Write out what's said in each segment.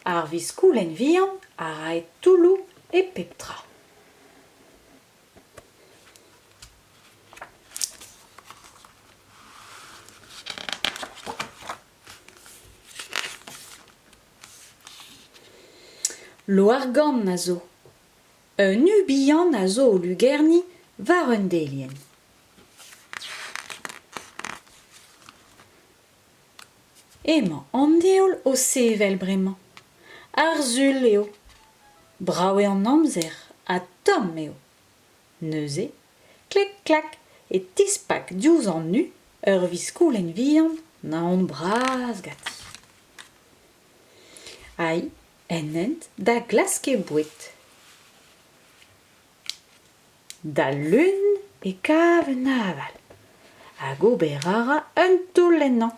Ar viskoulenn vihan a rae toulloù e pep tra. Loargann a zo. Un u bihan a zo o lugerniñ war un delienn. Emañ an Deol o sevel bremañ. Arzul eo. Brav eo an amzer ha tomm eo. Neuze, klek-klak e tispak diouzh an u ur viskoulenn vihan naon bras ganti. Ai en hent da glask he boued. D'al leun e kav un aval hag ober a ra un toull ennañ.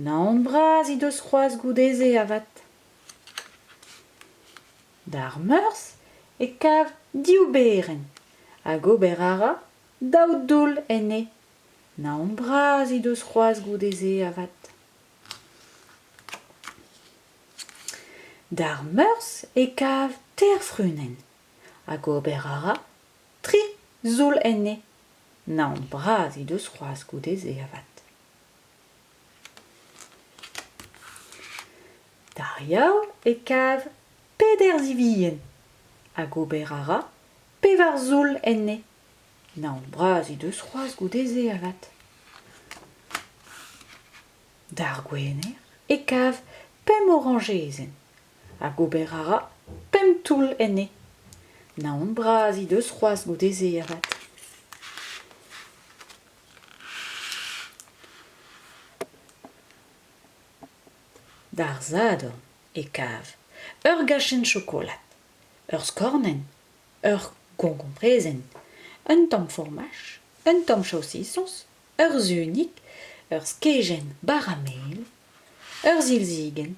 Naon bras he deus c'hoazh goude-se avat. D'ar meurzh e kav div berenn hag ober a ra daou doull enne. Naon bras he deus c'hoazh goude-se avat. D'ar meurzh e kav teir frunenn hag ober a ra tri zoull enne naon bras he deus c'hoazh goude-se avat d'ar yaou e kav peder zivien hag ober a ra pevar zoull enne naon bras he deus c'hoazh goude-se avat d'ar gwener e kav pemp orañjezenn hag ober a ra pemp toull enne. Naon bras he deus c'hoazh goude-se avat. D'ar sadorn e kav ur gachenn chokolad, ur skornenn, ur goñkomprezenn, un tamm formaj, un tamm chaosisons ur sunig, ur skeujenn bara mel, ur silzigenn,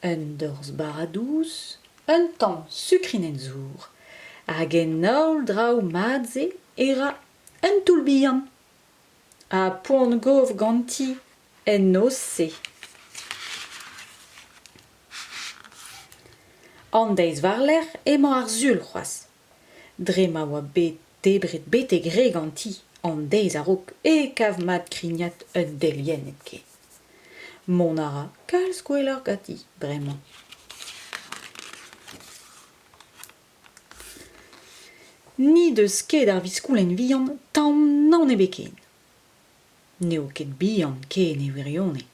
un dorzh bara dous, un tamm sukrinenn zour, hag en holl draoù mat-se e ra un toull bihan. Ha poan gov ganti en noz-se. An deiz war-lerc'h emañ ar sul c'hoazh. Dre ma oa bet debret betek re ganti an deiz a-raok e kav mat krignat un delienn hepken. Mont a ra kalz gwelloc'h ganti bremañ. N'he deus ket ar viskoulenn vihan tamm nann ebet ken. N'eo ket bihan ken e wirionez,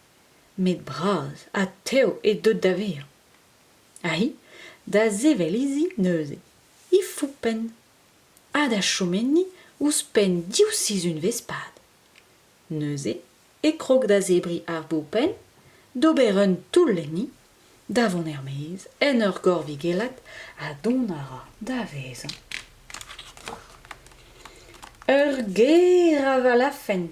met bras ha tev eo deuet da vezañ. Hi, da sevel izi neuze, he foupenn, ha da chom enni ouzhpenn div sizhunvezh-pad. Neuze e krog da zebriñ ar boupenn, d'ober un toull enni, da vont er-maez en ur gorvigellat ha dont a ra da vezañ. Ur ger avalafenn.